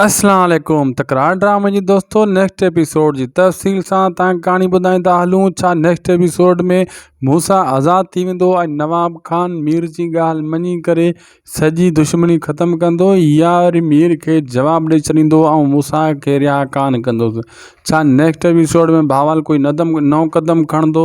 اسلام عليڪم تڪرار ڊرامي جي دوستو نيڪسٽ ايپيسوڊ جي تفصيل سان تان ڪهاڻي ٻڌائيندا هلون ڇا نيڪسٽ ايپيسوڊ ۾ موسا آزاد ٿي ويندو ۽ نواب خان مير جي ڳالهه مڃي ڪري سڄي دشمني ختم ڪندو يا وري مير کي جواب ڏئي ڇڏيندو ۽ موسا کي رها ڪانه ڪندو ڇا نيڪسٽ ايپيسوڊ ۾ بهاول ڪوئي ندم نئون قدم کڻندو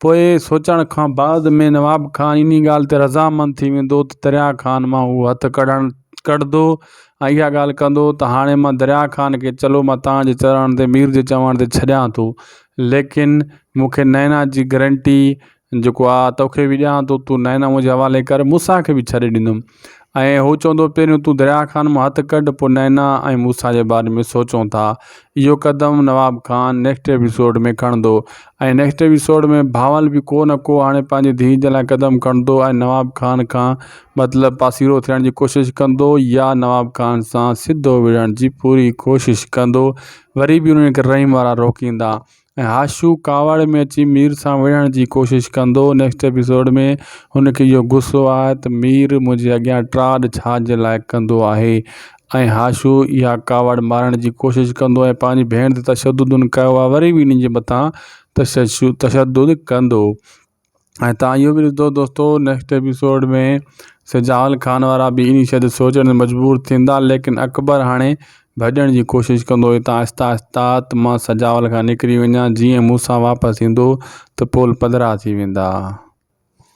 پوء سوچڻ کان بعد ۾ نواب خان انهي ڳالهه تي رضامند ٿي ويندو ته دريا خان مان هو هٿ ڪڍڻ ڪڍندو ۽ اها ڳالهه ڪندو ته هاڻي مان دريا خان کي چلو مان توهان جي چرڻ تي مير جي چوڻ تي ڇڏيان ٿو ليڪن مون کي نينا جي گرنٽي جيڪو آ توکي به ڏيان ٿو تون نينا منهنجي حوالي ڪر مون سان کي به ڇڏي ڏيندم ۽ هو چوندو پهريون تون دريا خان مان هٿ ڪڍ پوء نينا ۽ موسيٰ جي باري ۾ سوچون ٿا. اهو قدم نواب خان نيڪسٽ ايپيسوڊ ۾ کڻندو ۽ نيڪسٽ ايپيسوڊ ۾ بهاول به ڪو نه ڪو هاڻي پنهنجي ڌيء جي لاء قدم کڻندو ۽ نواب خان کان مطلب پاسيرو ٿيڻ جي ڪوشش ڪندو يا نواب خان سان سڌو وڙهڻ جي پوري ڪوشش ڪندو وري به انهن کي رحيم وارا روڪيندا ۽ هاشو ڪاوڙ ۾ اچي مير سان وڙهڻ جي ڪوشش ڪندو نيڪسٽ ايپيسوڊ ۾ هن کي اهو غصو آهي ته مير منهنجي اڳيان ٽراڊ ڇا جي لاء ڪندو آهي ۽ هاشو اها ڪاوڙ مارڻ جي ڪوشش ڪندو ۽ پنهنجي ڀيڻ تي تشدد ان ڪيو آهي وري به انهن جي مٿان تشدد ڪندو ۽ تان اهو به ڏسندو دوستو نيڪسٽ ايپيسوڊ ۾ سجال خان وارا به اني شھد سوچڻ مجبور ٿيندا ليڪن اڪبر هاڻي ڀڄڻ جي ڪوشش ڪندو هتان آهستي آهستي ته مان سجال کان نڪري وڃان جيئن مون سان واپس ايندو ته پول پڌرا ٿي ويندا